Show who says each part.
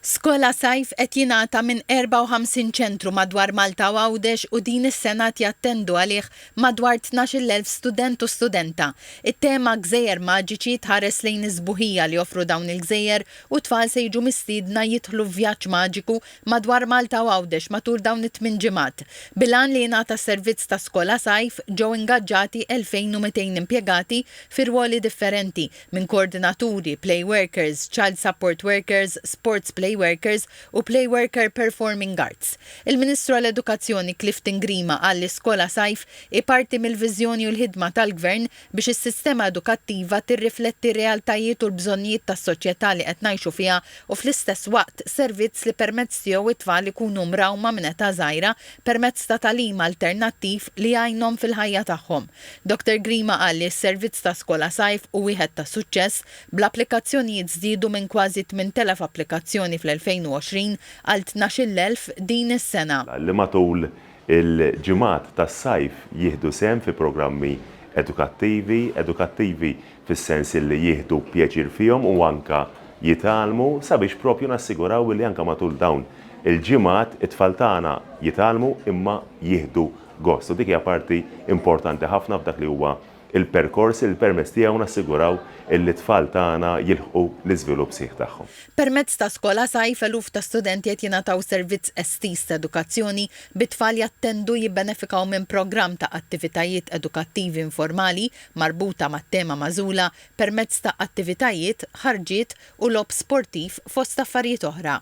Speaker 1: Skola Sajf qed jingħata minn 54 ċentru madwar Malta u Għawdex u din is-sena qed jattendu għalih madwar tnax-il elf student u studenta. It-tema Gżejjer Maġiċi tħares lejn is-sbuħija li joffru dawn il-gżejjer u t-tfal se jiġu mistiedna jidħlu f'vjaġġ maġiku madwar Malta u Għawdex matul dawn it-tmien ġimgħat. Bil-għan li jingħata s-servizz ta' Skola Sajf, ġew ingaġġati 2,200 impjegati fi rwoli differenti, minn koordinaturi, play workers, child support workers, sports play workers u play worker performing arts. Il-Ministru għall-Edukazzjoni Clifton Grima qal li Skola Sajf hi parti mill-viżjoni u l-ħidma tal-Gvern biex is-sistema edukattiva tirrifletti r-realtajiet u l-bżonnijiet tas-soċjetà li qed ngħixu fiha u fl-istess waqt servizz li permezz tiegħu t-tfal ikunu mrawma minn età żgħira permezz ta' tagħlim alternattiv li jgħinhom fil-ħajja tagħhom. Doctor Grima qal li s-servizz ta' Skola Sajf hu wieħed ta' suċċess, bl-applikazzjonijiet żdiedu minn kważi 8,000 applikazzjoni fl-2020 għal 12-il elf din is-sena. li matul
Speaker 2: il-ġimgħat tas-sajf jieħdu sehem fi programmi edukattivi, edukattivi fis-sens li jieħdu pjaċir fihom u anke jitgħallmu, sabiex propju nassiguraw li anke matul dawn il-ġimgħat it-tfal tagħna jitgħallmu imma jieħdu gost. U dik hija parti importanti ħafna f'dak li huwa l-perkors li permezz tiegħu nassiguraw illi t-tfal tagħna jilħqu l-iżvilupp sħiħ tagħhom. Permezz ta' Skola
Speaker 1: Sajf eluf ta' studenti qed jingħataw servizz estiż ta' edukazzjoni, bit-tfal jattendu u jibbenefikaw minn programm ta' attivitajiet edukattivi informali marbuta mat-tema magħżula permezz ta' attivitajiet, ħarġiet u logħob sportiv fost affarijiet oħra.